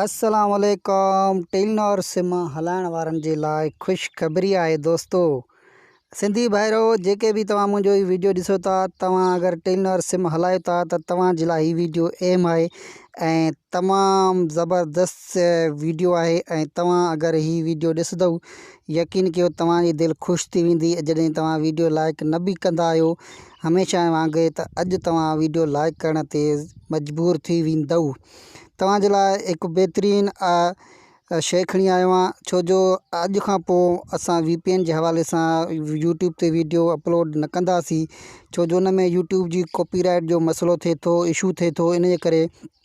السلام عليڪم ٽيلنور سم هلائڻ وارن جي لاء خوشخبري آهي دوستو سنڌي ڀائرو جيڪي به توهان منهنجو هي ويڊيو ڏسو ٿا توهان اگر ٽيلنور سم هلايو ٿا ته توهان جي لاء هي ويڊيو اهم آهي ۽ تمام زبردست ويڊيو آهي ۽ توهان اگر هي ويڊيو ڏسندو يقين ڪيو توهان جي دل خوش ٿي ويندي جڏهن توهان ويڊيو لائڪ نه به ڪندا آهيو هميشه وانگي ته اڄ توهان ويڊيو لائيڪ ڪرڻ تي مجبور ٿي ويندؤ توهان جي لاء هڪ بهترين آء شئي کڻي آيو آهيان ڇو جو اڄ کان پوء اسان وي پي اين جي حوالي سان يوٽيوب تي ويڊيو اپلوڊ نه ڪنداسي ڇو جو ان ۾ يوٽيوب جي ڪاپي رائيٽ جو مسئلو ٿي ٿو اشو ٿي ٿو ان جي ڪري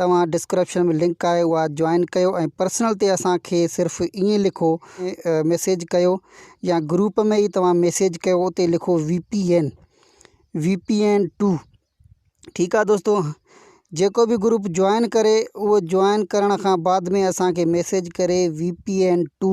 توهان ڊسڪرپشن ۾ لنڪ آهي اها جوائن ڪيو ۽ پرسنل تي اسان کي صرف ائين لکو ميسيج ڪيو يا گروپ ۾ ئي توهان ميسيج ڪيو اتي لکو V P N V P N to ٺيڪ آ دوستو جيڪو به گروپ جوائن ڪري اهو جوائن ڪرڻ کان بعد ۾ اسان کي ميسيج ڪري V P N to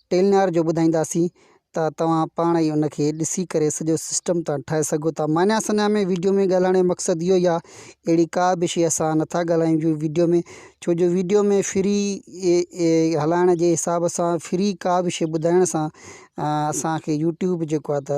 Telenor جو ٻڌائينداسين ته توهان پاڻ ئي ان کي ڏسي ڪري سڄو سسٽم ٿا ٺاهي سگهو ٿا مانيا سنيا ۾ ويڊيو ۾ ڳالهائڻ جو مقصد اهو ئي آهي اهڙي ڪا به شيء اسان نٿا ڳالهايون جو ويڊيو ۾ ڇو جو ويڊيو ۾ فري هلائڻ جي حساب سان فري ڪا به شيء ٻڌائڻ سان اسانکي يوٽيوب جيڪو آهي ته